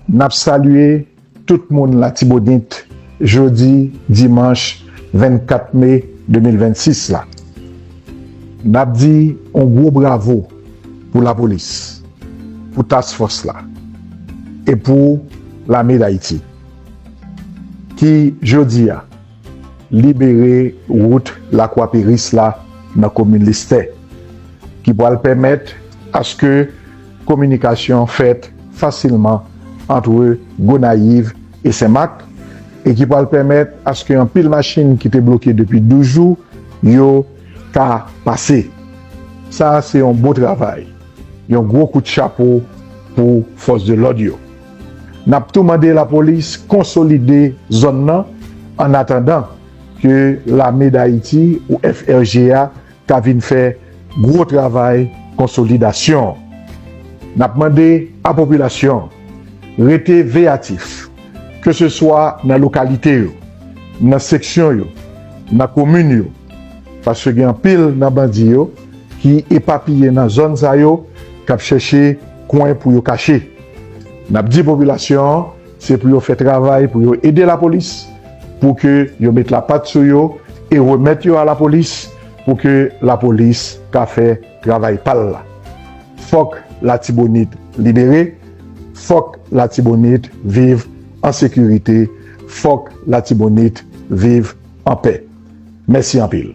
Nap salye tout moun latibonit jodi dimanch 24 me 2026 la. Nap di yon gwo bravo pou lapolis, pou task fòs la e pou lame dayiti ki jodi a libere wout lakwa peris la nan komin listè ki pwal pèmèt aske Kominikasyon fèt fasilman antre Gonayiv e Senmak e ki pral pèmèt aske anpil machin ki te bloke depi 12 jou yo ka pase. Sa a se yon bon travay, yon gwo kout chapo pou fòs de lòd yo. N ap tou mande lapolis konsolide zòn nan annatandan ke lame Dayiti ou FRG a ka vin fè gwo travay konsolidasyon an. N ap mande a popilasyon an rete veyatif, ke se swa nan lokalite yo, nan seksyon yo, nan komin yo, paske gen anpil nan bandi yo ki epapiye nan zòn sa yo k ap chèche kwen pou yo kache. N ap di popilasyon an Se pou yo fè travay pou yo ede lapolis pou ke yo met la pat sou yo e remèt yo a lapolis pou ke lapolis ka fè travay pal la. Fòk latibonit libere, fòk latibonit viv an sekirite, fòk latibonit viv an pè. Mèsi anpil.